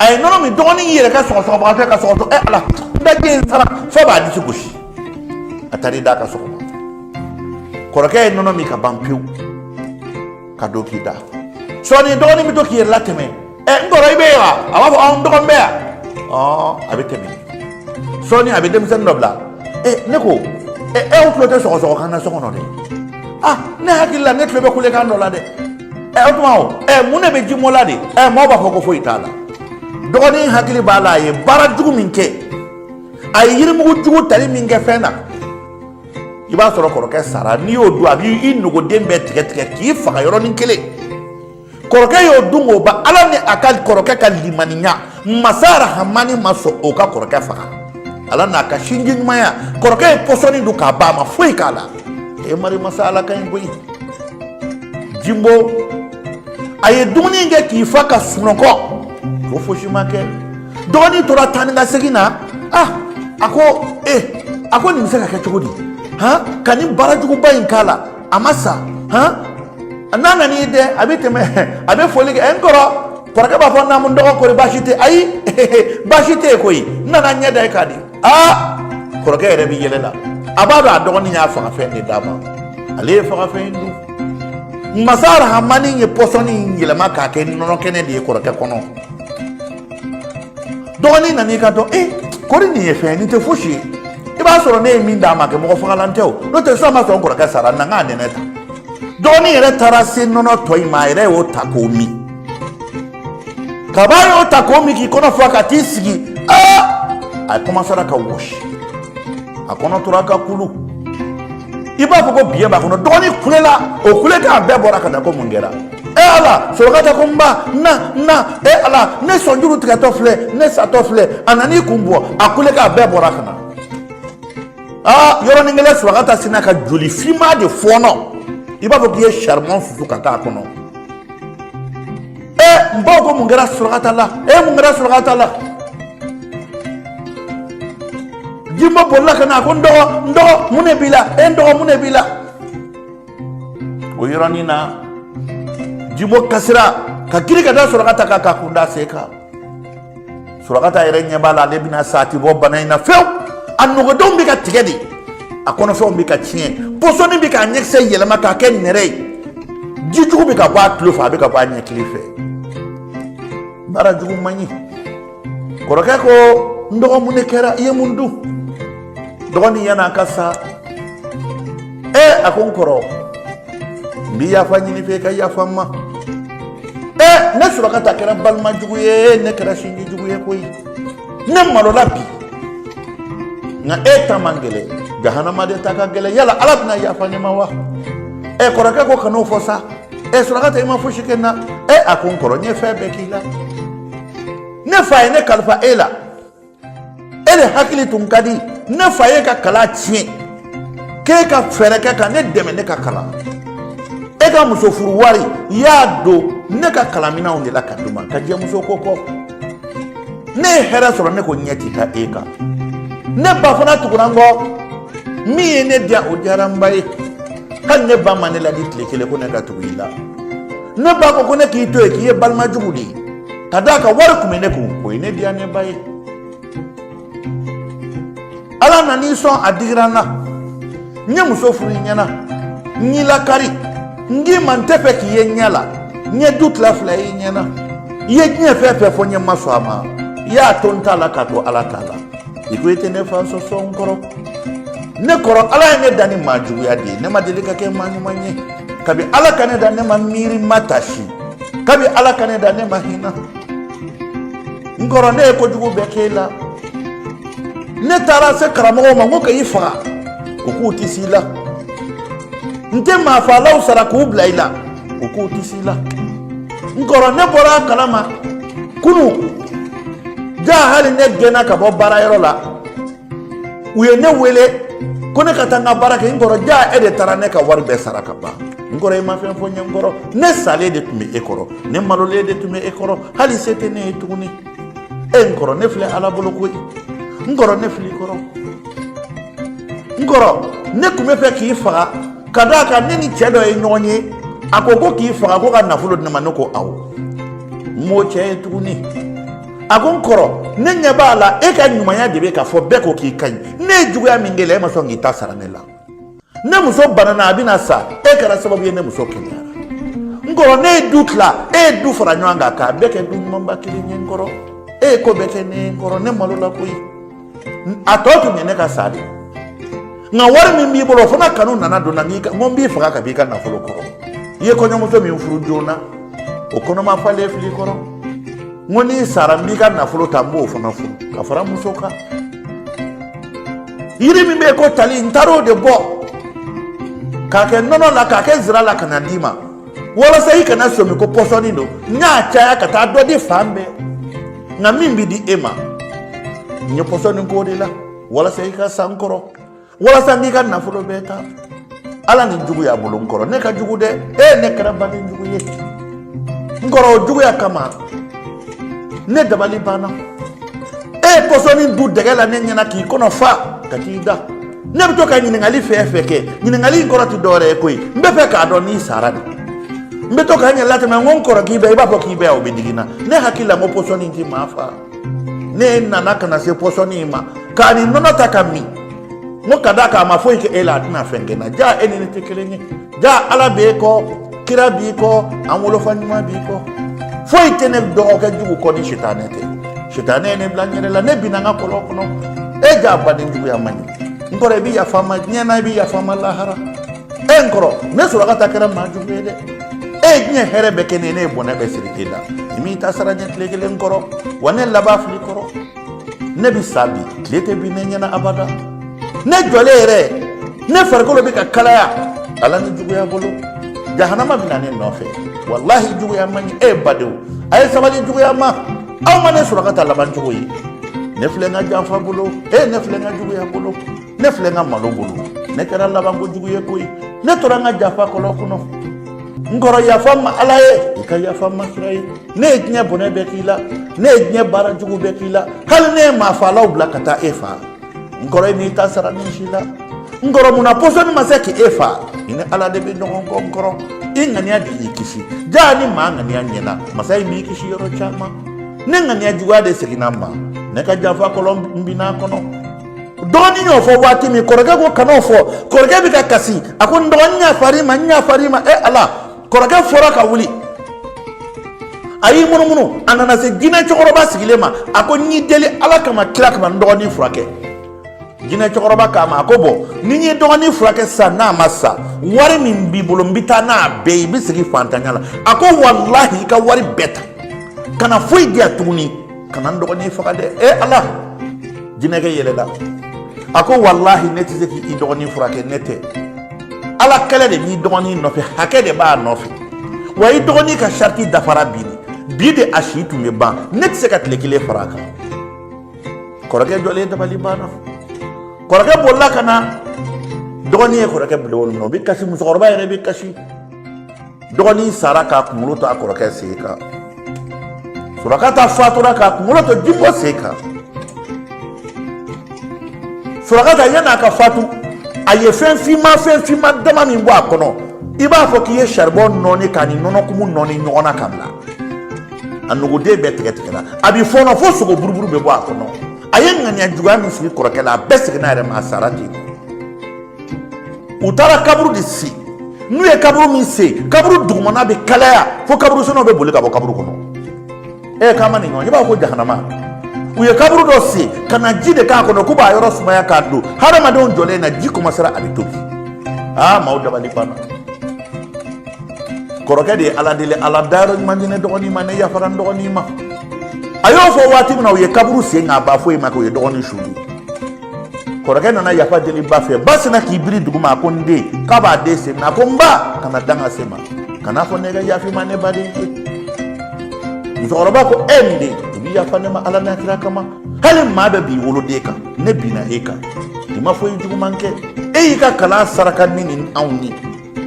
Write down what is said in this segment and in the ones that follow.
a ye nɔnɔ min dɔgɔnin y'i yɛrɛ kɛ sɔgɔsɔgɔbaga ye ka sɔgɔsɔgɔ ɛ ala daji in sara fo b'a disi gosi a taar'i da ka sɔgɔma kɔrɔkɛ ye nɔnɔ min ka ban pewu ka don k'i da sɔɔni dɔgɔnin bɛ to k'i yɛrɛ latɛmɛ ɛ n kɔrɔ i bɛ yen wa a b'a fɔ ɔ n dɔgɔ n bɛ yan ɔ a bɛ tɛmɛ sɔɔni a bɛ denmisɛnnin dɔ bila ɛ ne ko ɛ aw tulo tɛ sɔgɔsɔgɔ kan na so kɔnɔ dɛ ah ne hakili la ne tulo bɛ kulekan dɔ la dɛ ɛ o tuma o ɛ mun de bɛ jinbo la de ɛ mɔgɔw b'a fɔ ko foyi t'a la dɔgɔnin hakili b'a la a ye baara jugu min kɛ a ye yirimugu jugu tali min kɛ fɛn na i b'a sɔrɔ kɔrɔkɛ sara n'i y'o dun a b'i nogoden bɛɛ tigɛ tigɛ k'i faga yɔrɔnin kelen kɔrɔkɛ y'o dun k'o ban ala ni a ka kɔrɔkɛ ka limaniya masa arahamani ma sɔn o ka kɔrɔkɛ faga ala n'a ka sinji ɲumanya kɔrɔkɛ ye pɔsɔni dun k'a ban a ma foyi k'a la e mari masa ala ka ɲi koyi jimbo a ye dumuni in kɛ k'i fa ka sunɔgɔ ko fosi ma kɛ dɔgɔnin tora taa ni ka segin na ah a ko e a ko nin bɛ se ka kɛ cogo di han ka nin baara juguba in k'a la a ma sa hɔn n'a nana i dɛ a bɛ tɛmɛ a bɛ foli kɛ ɛ n kɔrɔ kɔrɔkɛ b'a fɔ naamu dɔgɔ kori baasi tɛ ayi baasi tɛ yen koyi n nana ɲɛ da i kan dɛ aa kɔrɔkɛ yɛrɛ bɛ yɛlɛ la a b'a dɔn a dɔgɔnin y'a fagafɛn de d'a ma ale ye fagafɛn in dun masa arahamani ye pɔsɔni in yɛlɛma k'a kɛ nɔnɔ kɛnɛ de ye kɔrɔkɛ kɔnɔ dɔgɔnin nan'i kanto ee kori nin ye fɛn ye nin tɛ fosi ye i b'a sɔrɔ ne ye min d'a ma kɛ mɔgɔ fagalan tɛ o n'o tɛ sisan b'a sɔrɔ n kɔrɔkɛ sara na n k'a nɛnɛ ta dɔgɔnin yɛrɛ taara se nɔnɔ tɔ in ma a yɛrɛ y'o ta k'o min ka ban a y'o ta k'o min k'i kɔnɔ fa ka t'i sigi aa a kɔmasara ka wɔsi a kɔnɔ tora ka kulu i b'a fɔ ko biɲɛ b'a kɔnɔ dɔgɔnin kulela o kulekan bɛɛ bɔra ka na ko mun kɛra e ala sorokata ko n ba na na e ala ne sɔnjuru tigɛtɔ filɛ ne satɔ filɛ a nan'i kun bɔ a kulekan bɛɛ bɔra ka na aa yɔrɔnin kelen sorokata sinna ka joli finma de fɔɔnɔ i b'a fɔ k'i ye saribɔn susu ka taa a kɔnɔ e n baw ko mun kɛra sorokata la e mun kɛra sorokata la jinbo bolila ka na a ko n dɔgɔ n dɔgɔ mun de b'i la e n dɔgɔ mun de b'i la o yɔrɔnin na jinbo kasira ka girin ka da surakata kan k'a kun da sen kan surakata yɛrɛ ɲɛ b'a la ale bɛna sa a ti bɔ bana in na fewu a nogodenw bɛ ka tigɛ de a kɔnɔfɛnw bɛ ka tiɲɛ pɔsɔni bɛ k'a ɲɛkisɛ yɛlɛma k'a kɛ nɛrɛ ye ji jugu bɛ ka bɔ a tulo fɛ a bɛ ka bɔ a ɲɛkili fɛ baara jugu man ɲi kɔrɔkɛ ko n dɔgɔ mun ne kɛra i ye mun dun dɔgɔnin yan'a ka sa ee a ko n kɔrɔ n bi yafa ɲini i fɛ i ka yafa n ma ee ne surakata kɛra balima jugu ye ne kɛra sinji jugu ye koyi ne malola bi nka e ta man gɛlɛ jahanama de ta ka gɛlɛ yala ala bɛna yafa ne ma wa e kɔrɔkɛ ko kan'o fɔ sa e surakata i ma fosi kɛ n na e a ko n kɔrɔ n ye fɛn bɛɛ k'i la ne fa ye ne kalifa e la e de hakili tun ka di ne fa y'e ka kalan tiɲɛ k'e ka fɛɛrɛ kɛ ka ne dɛmɛ ne ka kalan e ka muso furu wari i y'a don ne ka kalanminɛnw de la ka d'u ma ka jɛ muso ko kɔ ne ye hɛrɛ sɔrɔ ne ko ɲɛ ti da e kan ne ba fana tugura n kɔ min ye ne diya o diyara n ba ye hali ne ba ma ne ladi tile kelen ko ne ka tugu i la ne ba ko ko ne k'i to yen k'i ye balima jugu de ye ka d'a kan wari tun bɛ ne kun o ye ne diya ne ba ye ala nan'i sɔn a digira n na n ye muso furu i ɲɛna n y'i lakari n k'i ma n tɛ fɛ k'i ye n ɲɛ la n ye du tila fila ye i ɲɛna i ye diɲɛ fɛn fɛn fɔ n ye n ma sɔn a ma i y'a to n ta la k'a to ala ta la i ko i tɛ ne fa sɔsɔ n kɔrɔ ne kɔrɔ ala ye ne da ni maa juguya de ye ne ma deli ka kɛ maa ɲuman ye kabi ala ka ne da ne ma miiri ma tasi kabi ala ka ne da ne ma hina n kɔrɔ ne ye kojugu bɛɛ k'e la ne taara se karamɔgɔw ma n ko ka i faga u k'u ti se i la n tɛ maafalaw sara k'u bila i la u k'u ti se i la n kɔrɔ ne bɔra a kalama kunu jaa hali ne gɛnna ka bɔ baarayɔrɔ la u ye ne wele ko ne ka taa n ka baara kɛ n kɔrɔ jaa e de taara ne ka wari bɛɛ sara ka ban n kɔrɔ i ma fɛn fɔ n ye n kɔrɔ ne salen de tun bɛ e kɔrɔ ne malolen de tun bɛ e kɔrɔ hali se tɛ ne ye tuguni e n kɔrɔ ne filɛ ala bolo koyi n kɔrɔ ne fil'i kɔrɔ n kɔrɔ ne tun bɛ fɛ k'i faga ka d'a kan ne ni cɛ dɔ ye ɲɔgɔn ye a ko ko k'i faga ko ka nafolo di ne ma ne ko awɔ n m'o cɛ ye tuguni a ko n kɔrɔ ne ɲɛ b'a la e ka ɲumanya de bɛ k'a fɔ bɛɛ ko k'i ka ɲi ne ye juguya min k'e la e ma sɔn k'i ta sara ne la ne muso banana a bɛna sa e kɛra sababu ye ne muso kɛnɛyara n kɔrɔ ne ye du tila e ye du fara ɲɔgɔn kan k'a bɛɛ kɛ du ɲumanba kelen ye n kɔrɔ e ye ko bɛɛ kɛ ne ye n kɔrɔ ne malola koyi a tɔ tun bɛ ne ka sa de nka wari min b'i bolo o fana kanu nana don n na n'i ka n ko n b'i faga ka b'i ka nafolo kɔrɔ i ye kɔɲɔmuso min furu joona o kɔnɔma falen fil'i kɔrɔ n ko n'i sara n b'i ka nafolo ta n b'o fana furu ka fara muso kan yiri min bɛ yen ko tali n taar'o de bɔ k'a kɛ nɔnɔ la k'a kɛ zira la ka na d'i ma walasa i kana somi ko pɔsɔni don n y'a caya ka taa dɔ di fan bɛɛ nka min bɛ di e ma n ye pɔsɔni k'o de la walasa i ka sa n kɔrɔ walasa n b'i ka nafolo bɛɛ ta ala ni juguya bolo n kɔrɔ ne ka jugu dɛ e ne kɛra baden jugu ye n kɔrɔ o juguya kama ne dabali banna e ye pɔsɔni dun dɛgɛ la ne ɲɛna k'i kɔnɔ fa ka t'i da ne bɛ to ka ɲininkali fɛn fɛn kɛ ɲininkali in kɔrɔ tɛ dɔwɛrɛ ye koyi n b'a fɛ k'a dɔn n'i sara de n bɛ to ka n yɛrɛ latɛmɛ n ko n kɔrɔ k'i bɛ i b'a fɔ k'i bɛ o bɛ digi n na ne hakili la n ko pɔsɔni in tɛ maa faa ne nana ka na se pɔsɔni in ma k'a ni nɔnɔ ta k'a min n ko ka d'a kan a ma foyi kɛ e la a tɛna fɛn kɛ n na jaa e ni ne tɛ kelen ye jaa ala bɛ e kɔ kira b'i kɔ an wolofa ɲuman b'i kɔ foyi tɛ ne dɔgɔkɛ jugu kɔ ni sitanɛ tɛ sitanɛ ye ne bila n yɛrɛ la ne binna n ka kɔlɔn kɔnɔ e jaa baden juguya man ɲi n kɔrɔ i bɛ yafa n ma diɲɛ na i bɛ yafa n ma lahara e n kɔrɔ ne sorakata kɛra maa jugu ye dɛ e ye diɲɛ hɛrɛ bɛɛ kɛ ne ye ne ye bɔnɛ bɛɛ siri e la i m'i ta sara n ye tile kelen kɔrɔ wa ne laban filɛ kɔrɔ ne bɛ sa bi tile tɛ bin ne ɲɛ na abada ne jɔlen yɛrɛ ne farikolo bɛ ka kalaya ala ni juguya bolo jahanama bɛ na ne nɔfɛ walahi juguya man ɲi e ye badenw a ye sabali juguya ma aw ma ne sorakata labancogo ye ne filɛ n ka janfa bolo e ne filɛ n ka juguya bolo ne filɛ n ka malo bolo ne kɛra laban kojugu ye koyi ne tora n ka janfa kɔlɔn kɔnɔ n kɔrɔ yafa n ma ala ye i ka yafa n ma kira ye ne ye diɲɛ bɔnɛ bɛɛ k'i la ne ye diɲɛ baara jugu bɛɛ k'i la hali ne ye maa faalaw bila ka taa e faa n kɔrɔ i m'i ta sara nin si la n kɔrɔ mun na pɔsɔni ma se k'e faa i ni ala de bɛ ɲɔgɔn kɔ n kɔrɔ i ŋaniya de y'i kisi jaa ni maa ŋaniya ɲɛna masa in b'i kisi yɔrɔ caman ne ŋaniya juguya de seginna n ma ne ka janfa kɔlɔn n binna kɔnɔ dɔgɔnin y'o fɔ waati min kɔrɔkɛ ko kan'o fɔ kɔrɔkɛ bɛ ka kasi a ko n dɔgɔnin n yafar'i ma n yafar'i ma e ala kɔrɔkɛ fora ka wuli a y'i munumunu a nana se jinɛ cɛkɔrɔba sigilen ma a ko n y'i deli ala kama kira kama n dɔgɔnin furakɛ jinɛ cɛkɔrɔba k'a ma a ko bɔn ni n y'i dɔgɔnin furakɛ sisan n'a ma sa wari min b'i bolo n bɛ taa n'a bɛɛ ye i bɛ segin fantanya la a ko walahi i ka wari bɛɛ ta kana foyi di yan tuguni kana n dɔgɔnin faga dɛ e ala jinɛkɛ yɛlɛla a ko walahi ne tɛ se k'i dɔgɔnin furakɛ ne tɛ ala kɛlɛ de b'i dɔgɔnin nɔfɛ hakɛ de b'a nɔfɛ wa i dɔgɔnin ka sarati dafara bi de bi de a si tun bɛ ban ne tɛ se ka tile kelen fara a kan kɔrɔkɛ jɔlen dabali banna kɔrɔkɛ bolila ka na dɔgɔnin ye kɔrɔkɛ bila o nɔ o bɛ kasi musokɔrɔba yɛrɛ bɛ kasi dɔgɔnin sara k'a kunkolo to a kɔrɔkɛ sen kan surakata fatura k'a kunkolo to jimo sen kan surakata yanni a ka fatu a ye fɛn finma fɛn finma dama min bɔ a kɔnɔ i b'a fɔ k'i ye saribɔn nɔɔni k'a ni nɔnɔkumu nɔɔni ɲɔgɔn na ka bila a nuguden bɛɛ tigɛtigɛla a bɛ fɔɔnɔ fo sogo buruburu bɛ bɔ a kɔnɔ a ye ŋaniya juguya min sigi kɔrɔkɛ la a bɛɛ seginna a yɛrɛ ma a sara ten u taara kaburu de sen n'u ye kaburu min sen kaburu dugumana bɛ kalaya fo kaburu sennaw bɛ boli ka bɔ kaburu kɔnɔ e k'an ma nin ɲɔgɔn ye i b'a fɔ ko jahanama u ye kaburu dɔ sen ka na ji de k'a kɔnɔ k'u b'a yɔrɔ sumaya k'a don hadamadenw jɔlen ɲɛ na ji kɔmasera a bɛ tobi aa maaw dabali banna kɔrɔkɛ de ye ala deli ala dayɔrɔ ɲuman di ne dɔgɔnin ma ne yafara n dɔgɔnin ma a y'o fɔ waati min na u ye kaburu sen ka ban foyi ma kɛ u ye dɔgɔnin su don kɔrɔkɛ nana yafa deli ba fɛ ba sinna k'i biri duguma a ko n den k'a b'a den sen minɛ a ko n ba kana danga se n ma kana a fɔ ne ka yafa i ma ne baden ye musokɔrɔba ko e n den i bɛ yafa ne ma ala n'a kira kama hali maa bɛ bin i woloden kan ne binna e kan i ma foyi juguman kɛ e y'i ka kalan saraka ni nin anw ye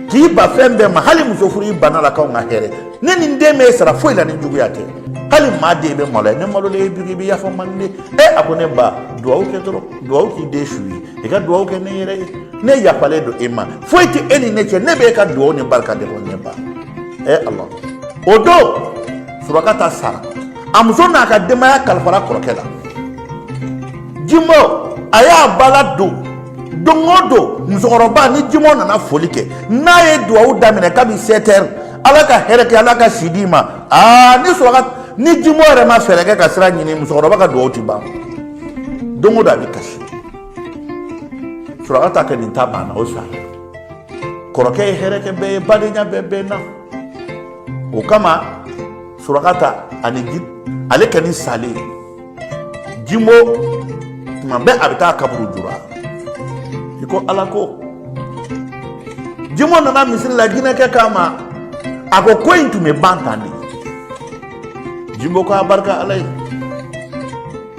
k'i ban fɛn bɛɛ ma hali muso furu i banna a la k'anw ka hɛrɛ ne ni n den ma i sara foyi la ni juguya tɛ hali maa de bɛ malo ne malolen ye jugu i bɛ yafa n ma de e a ko ne ba dugawu kɛ dɔrɔn dugawu k'i den su ye i ka dugawu kɛ ne yɛrɛ ye ne yafalen don e ma foyi tɛ e ni ne cɛ ne bɛ e ka dugawu ni barika de kɔ ne ba e ala o don surakata sara a muso n'a ka denbaya kalifara kɔrɔkɛ la jimo a y'a ba ladon don o don musokɔrɔba ni jimo nana foli kɛ n'a ye duwawu daminɛ kabi sɛtɛri ala ka hɛrɛ kɛ ala ka si di i ma aa ni suraka ni jimo yɛrɛ ma fɛɛrɛ kɛ ka sira ɲini musokɔrɔba ka duwawu ti ban don o don a bɛ kasi surakata kɛ nin ta banna o sa kɔrɔkɛ ye hɛrɛ kɛ bɛɛ ye badenya bɛɛ bɛnna o kama surakata ani ji ale kɛ ni salen ye jimo tuma bɛɛ a bɛ taa kaburu jura i ko ala ko jimo nana misiri la jinɛkɛ k'a ma a ko ko in tun bɛ ban tan de jimo ko a barika ala ye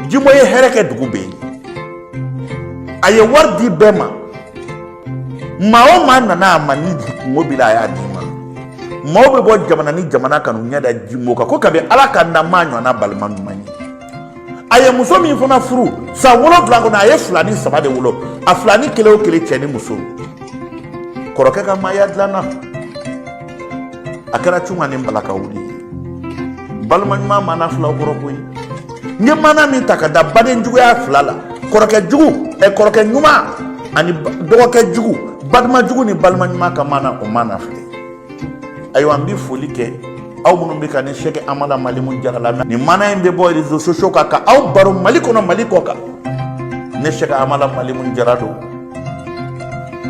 jimo ye hɛrɛ kɛ dugu bɛɛ ye a ye wari di bɛɛ ma maa o maa nana a ma ni kunko b'i la a y'a d'i ma maaw bɛ bɔ jamana ni jamana ka n'u ɲɛ da jimo kan ko kabi ala k'an da an m'a ɲɔgɔnna balima ɲuman ye a ye muso min fana furu san wolonwula kɔnɔ a ye filanin saba de wolo a filanin kelen o kelen cɛ ni muso kɔrɔkɛ ka maaya dilanna a kɛra cunga ni balaka wuli balima ɲuman mana filaw kɔrɔ koyi n ye mana min ta ka da baden juguya fila la kɔrɔkɛ jugu ɛ kɔrɔkɛ ɲuman ani dɔgɔkɛ jugu balima jugu ni balima ɲuman ka mana o mana filɛ ayiwa n bɛ foli kɛ aw minnu bɛ ka ne sɛkɛ amala malimu jara lamɛn mana in bɛ bɔ réseaux sociaux kan ka aw baro mali kɔnɔ mali kɔkan ne sɛkɛ amala malimu jara don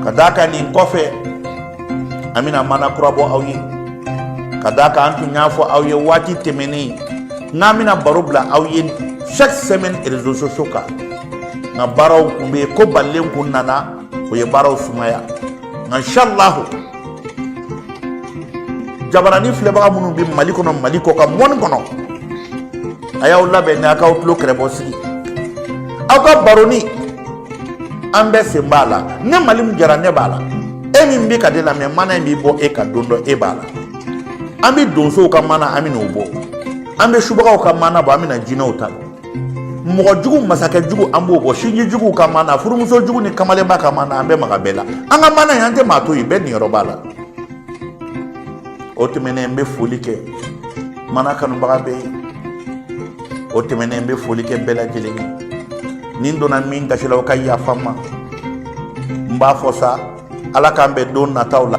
ka d'a kan nin kɔfɛ an bɛna mana kura bɔ aw ye ka d'a kan an tun y'a fɔ aw ye waati tɛmɛnen k'an bɛna baro bila aw ye chaque semaine réseaux sociaux kan nka baaraw kun bɛ yen ko balilen kun nana o ye baaraw sumaya nka inshallahu jabarani filɛbaga minnu bɛ mali kɔnɔ mali kɔkan monde kɔnɔ a y'aw labɛn ni a k'aw tulo kɛrɛbɔ sigi aw ka baroni an bɛɛ sen b'a la ne malimu jara ne b'a la e min bɛ ka ne lamɛn mana in bɛ bɔ e kan don dɔ e b'a la an bɛ donsow ka mana an bɛn'o bɔ an bɛ subagaw ka mana bɔ an bɛna jinɛw ta la mɔgɔ jugu masakɛ jugu an b'o bɔ sinji juguw ka mana furumuso jugu ni kamalenba ka mana an bɛ maga bɛɛ la an ka mana in an tɛ maa to yen bɛɛ niyɔrɔ b'a la o tɛmɛnen n bɛ foli kɛ mana kanubaga bɛɛ ye o tɛmɛnen n bɛ foli kɛ bɛɛ lajɛlen ye ni n donna min gasi la o ka yafa n ma n b'a fɔ sa ala k'an bɛn don nataw la